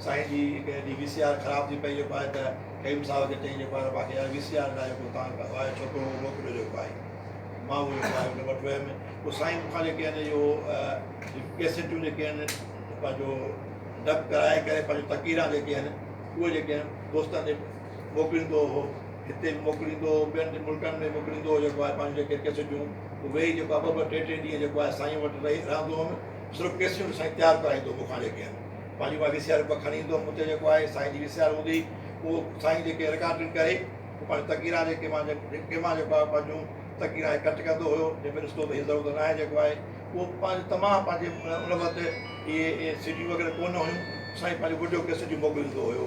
سائين جي هڪ ڏينهن وي سي آر خراب ٿي پئي جيڪو آهي ته قيوم صاحب کي چئي جيڪو آهي ته ماکي يار وي سي آر لاهي پوء تان اهو آهي ڇوڪرو اهو موڪليو جيڪو آهي مان اهو جيڪو آهي ان وٽ ويم پوء سائين مون کان جيڪي آهن اهو ڪيسيٽون جيڪي آهن پنهنجو ڊب ڪرائي ڪري پنهنجو تقريرا جيڪي آهن اهي جيڪي آهن دوستن ڏي موڪليندو هو هتي به موڪليندو هو ٻين ملڪن ۾ موڪليندو هو جيڪو آهي پنهنجو جيڪي ڪيسيٽون پوء ويهي جيڪو آهي ٻه ٻه ٽي ٽي ڏينهن جيڪو آهي سائين وٽ رهي رهندو هوم صرف ڪيسيون سائين تيار ڪرائيندو مون کان جيڪي آهن پنهنجي اها وي سي آر کڻي ايندو هوم اتي جيڪو آهي سائين جي وي سي آر هوندي اهو سائين جيڪي رڪارڊنگ ڪري پوء پنهنجي تقريرا جيڪي مان جيڪي مان جيڪو آهي پنهنجون تقريرا هي ڪٽ ڪندو هيو جنهن ۾ ڏسندو هي ضرورت ناهي جيڪو آهي اهو پنهنجو تمام پنهنجي ان وقت اهي سي ڊيون وغيره ڪو نه هيون سائين پنهنجو وڊيو ڪيسٽيون موڪليندو هيو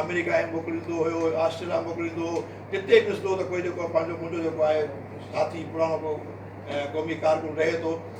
آمريڪا هي موڪليندو هيو آسٽريليا موڪليندو هو جتي ڏسندو هو ته ڪوئي جيڪو پنهنجو منهنجو جيڪو آهي ساٿي پراڻو ڪو قومي ڪارڪن رهي ٿو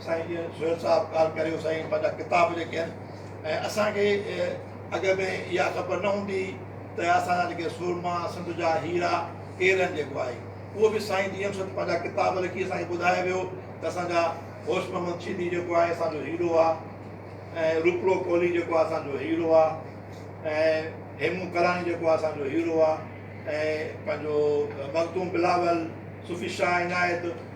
سائين جي سهيل صاحب ڳالهه ڪريو سائين پنهنجا ڪتاب جيڪي آهن ۽ اسان کي اڳ ۾ اها خبر نه هوندي هئي ته اسان جا جيڪي سورما سنڌ جا هيرا ڪير آهن جيڪو آهي اهو به سائين جي ايم سيد پنهنجا ڪتاب لکي اسان کي ٻڌايو ويو ته اسان جا هوش محمد شيدي جيڪو آهي اسان جو هيرو آهي ۽ روپڙو ڪولهي جيڪو آهي اسان جو هيرو آهي ۽ هيمون ڪلاڻي جيڪو آهي اسان جو هيرو آهي ۽ پنهنجو مخدوم بلاول صوفي شاهه عنايت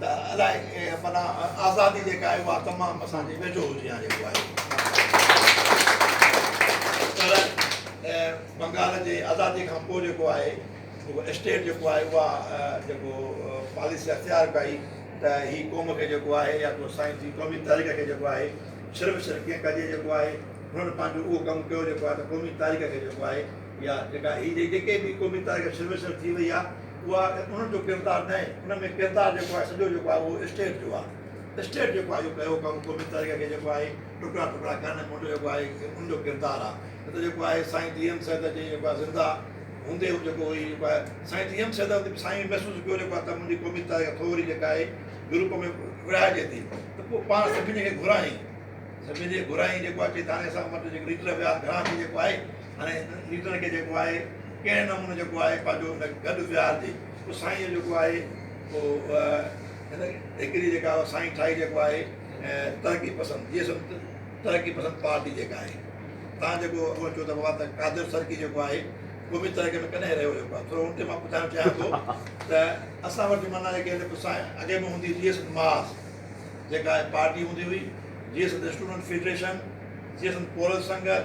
ته الاء معنيٰ آزادي جيڪا آهي اها تمام اسان جي ويجهو هجي يا جيڪو آهي پر بنگال جي آزادي کان پوء جيڪو آهي جيڪو اسٽيٽ جيڪو آهي اها جيڪو پاليسي اختيار ڪئي ته هي قوم کي جيڪو آهي يا ڪو سائنس جي قومي تاريخ کي جيڪو آهي صرف صرف ڪيئن ڪجي جيڪو آهي هنن پنهنجو اهو ڪم ڪيو جيڪو آهي ته قومي تاريخ کي جيڪو آهي يا جيڪا هي جي جيڪي به قومي تاريخ ۾ سرويسر ٿي وئي آهي اها انهن جو ڪردار نه آهي ان ۾ ڪردار جيڪو آهي سڄو جيڪو آهي اهو اسٽيٽ جو آهي اسٽيٽ جيڪو آهي اهو ڪيو ڪم قومي تاريخ کي جيڪو آهي ٽڪرا ٽڪرا ڪرڻ ۾ منهنجو جيڪو آهي ان جو ڪردار آهي نه ته جيڪو آهي سائين ڊي ايم سيد جي جيڪو آهي زنده هوندي هو جيڪو هي جيڪو آهي سائين ڊي ايم سيد هوندي سائين محسوس ڪيو جيڪو آهي ته منهنجي قومي تاريخ ٿوري جيڪا آهي گروپ ۾ ورهائجي ٿي ته پوء پاڻ سڀني کي گهرايائين سڀني کي گهرايائين جيڪو آهي چي هاڻي اسان وٽ جيڪو ليڊر ويا گهران ٿي جيڪو آهي هاڻي نيٽن کي جيڪو آهي ڪهڙي نموني جيڪو آهي پنهنجو ان گڏ ويهارجي پوء سائينء جيڪو آهي پوء هن هڪڙي جيڪا سائين ٺاهي جيڪو آهي ترقي پسند جي سمت ترقي پسند پارٽي جيڪا آهي تان جيڪو اڳو چيو ته بابا ته قادر سرڪي جيڪو آهي قومي ترقي ۾ ڪڏهن رهيو جيڪو آهي ٿورو ان تي مان ٻڌائڻ چاهيان ٿو ته اسان وٽ منا جيڪي آهن سائين اڳي به هوندي جي سمت ماس جيڪا آهي پارٽي هوندي هئي جي سمت اسٽوڊنٽ فيڊريشن جي سمت پورس سنگت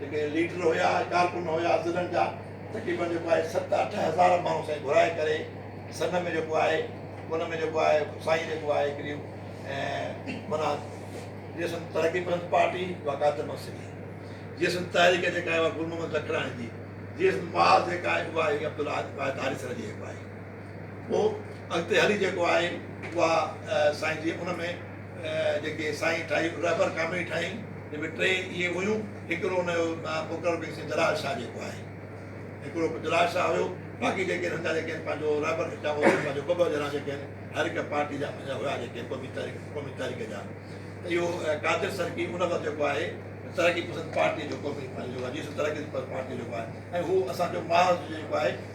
جيڪي ليڊر هيا ڪارڪن هيا ضلعن جا تقريبن جيڪو آهي ست اٺ هزار ماڻهو سائين گهرائي ڪري سنڌ ۾ جيڪو آهي ان ۾ جيڪو آهي سائين جيڪو آهي هڪڙي منا جي سنڌ ترقي پسند پارٽي وقات مسئلي جي سنڌ تحريڪ جيڪا آهي گل محمد لکراڻي جي جي سنڌ باز جيڪا آهي عبد الحاد سر جي جيڪو آهي پوء اڳتي هلي جيڪو آهي اها سائين جي ان ۾ جيڪي سائين ٺاهي رهبر ڪاميٽي ٺاهي جن ۾ ٽي اهي هيون هڪڙو ان جو مقرر ڪيسين جلال شاهه جيڪو آهي هڪڙو جلال شاهه هيو باقي جيڪي هن جا جيڪي پنهنجو رهبر ٺاهيا هو پنهنجو ٻه ٻه ڄڻا جيڪي هر هڪ پارٽي جا پنهنجا هيا جيڪي قومي تحريڪ قومي تحريڪ جا ته اهو قادر سرڪي ان وقت جيڪو آهي ترقي پسند پارٽي جو قومي پنهنجو جيسو ترقي پسند پارٽي جيڪو آهي ۽ هو اسانجو محاذ جيڪو آهي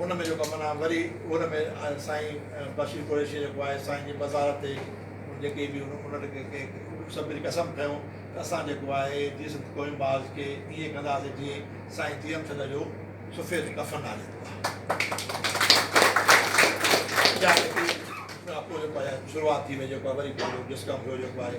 ان ۾ جيڪو معنيٰ وري ان ۾ سائين بشير قريشيء جيڪو آهي سائين جي مزار تي جيڪي به انهن کي سڀني قسم کنيو ته اسان جيڪو آهي جي سنڌ قومي باز کي ائين ڪنداسين جيئن سائين تيم چند جو سفيد ڪفن آهي جيڪو آهي اها جيڪي اها پوء جيڪو آهي شروعات ٿي وئي جيڪو آهي وري پنهنجو ڊسڪم ٿيو جيڪو آهي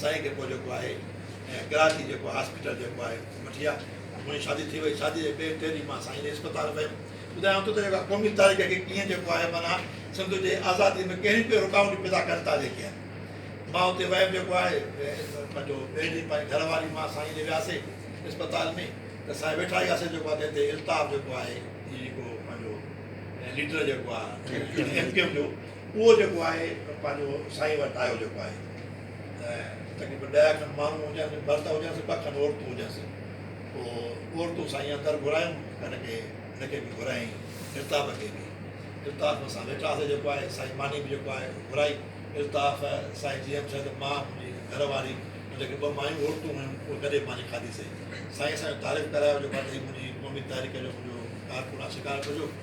سائين کي پوء جيڪو آهي ڪراچي جيڪو هاسپيٽل جيڪو آهي مٺيا منهنجي شادي ٿي وئي شادي جي ٻئي ٽي ڏينهن مان سائين جي اسپتال ويم ٻڌايائون ته جيڪو قومي تاريخ کي ڪيئن جيڪو آهي معنيٰ سنڌ جي آزادي ۾ ڪهڙي ڪهڙي رڪاوٽون پيدا ڪن ٿا جيڪي آهن مان اتي ويم جيڪو آهي پنهنجو ٻئي ڏينهن پنهنجي گهر واري مان سائين ڏي وياسي اسپتال ۾ ته سائين ويٺا هياسي جيڪو آهي تنهن تي الطاف جيڪو آهي جيڪو پنهنجو ليڊر جيڪو آهي ايم ڪيو ايم جو اهو جيڪو آهي پنهنجو سائين وٽ آيو جيڪو آهي تقريبن ڏهه کن ماڻهو هجانس مرد هجانس ٻه کن عورتون هجانس پوء عورتون سائين اندر گهرايون هن کي هن کي به گهرايائين الطاف کي به الطاف اسان ويٺاسي جيڪو آهي سائين ماني به جيڪو آهي گهرائي الطاف سائين جي ايم سيد مان منهنجي گهر واري ۽ جيڪي ٻه مايون عورتون هيون اهي گڏي ماني کاڌيسي سائين اسان جو تعارف ڪرايو جيڪو آهي ته هي منهنجي ممي طاهرڪه جو منهنجو ڪارڪن آهي شڪارپور جو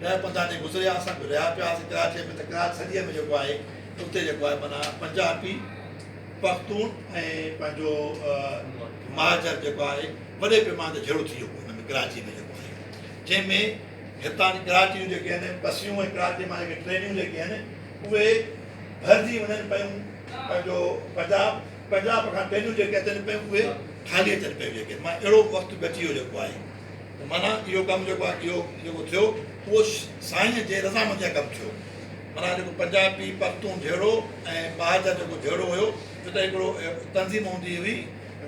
ڏهه پنڌا تي گذريا اسان به رهيا پيا هئاسين ڪراچيء ۾ ته ڪراچ سنڌيء ۾ جيڪو آهي اتي جيڪو آهي معنيٰ پنجابي پختون ۽ پنهنجو مهاجر جيڪو آهي وڏي پيماني تي جهيڙو ٿي ويو هو ان ۾ ڪراچيء ۾ جيڪو آهي جنهن ۾ هتان جي ڪراچي جون جيڪي آهن بسيون ۽ ڪراچيء مان جيڪي ٽرينيون جيڪي آهن اهي ڀرجي وڃن پيون پنهنجو پنجاب پنجاب کان ٽرينيون جيڪي اچن پيون اهي خالي اچن پيون جيڪي معنيٰ اهڙو وقت به اچي ويو جيڪو آهي ته معنيٰ اهو ڪم جيڪو آهي اهو جيڪو ٿيو اهو سائينء جي رضامنديء جا ڪم ٿيو. معنيٰ جيڪو پنجابي پختون جهيڙو ۽ ٻاهر جا جيڪو جهيڙو هيو جو ته هڪڙو تنظيم هوندي هئي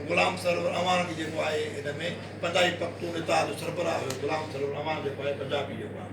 غلام سرور اعواڻ جي جيڪو آهي ان ۾ پنجابي پختون اتحاد جو سربراهه هيو غلام سرور اعواڻ جيڪو آهي پنجابي جيڪو آهي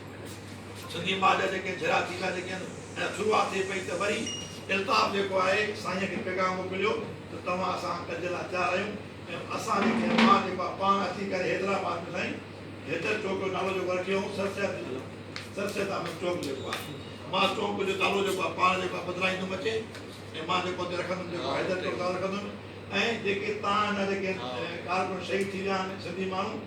سنڌي ماء جا جيڪي جھيڙا ٿيندا جيڪي ھن ۽ شروعات ٿئي پئي ته وري الطاف جيڪو آھي سائين کي پيغام موڪليو ته توھان اسان ڪجھ لا تيار آھيون ۽ اسان جي ڪنھن ماء جيڪو آھي پاڻ اچي ڪري حيدرآباد ۾ سائين حيدر چوڪ جو نالو جيڪو رکيو ھئون سر سيد سر سيد احمد چوڪ جيڪو آھي مان چوڪ جو نالو جيڪو آھي پاڻ جيڪو آھي بدلائيندم اچي ۽ مان جيڪو اتي رکندم جيڪو حيدر چوڪ نالو رکندم ۽ جيڪي تان جا جيڪي ڪارڪن شھيد ٿي ويا آھن سنڌي ماڻھو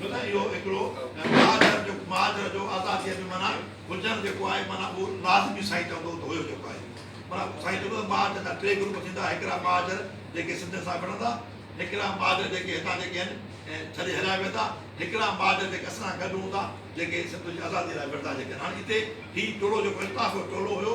ڇو ته اهو هڪڙو معذر جو معذر جو آزاديء جو معنيٰ هجڻ جيڪو آهي معنيٰ اهو لازمي سائين چوندو ته هيو جيڪو آهي معنيٰ سائين چوندو ته معذر جا ٽي گروپ ٿيندا هڪڙا معذر جيڪي سنڌين سان وڙهندا هڪڙا معذر جيڪي هتان جيڪي آهن ڇڏي هليا ويندا هڪڙا معذر جيڪي اسان سان گڏ هوندا جيڪي سنڌ جي آزاديء لاء وڙهندا جيڪي آهن هاڻي هتي هي ٽولو جيڪو اختلاف جو ٽولو هيو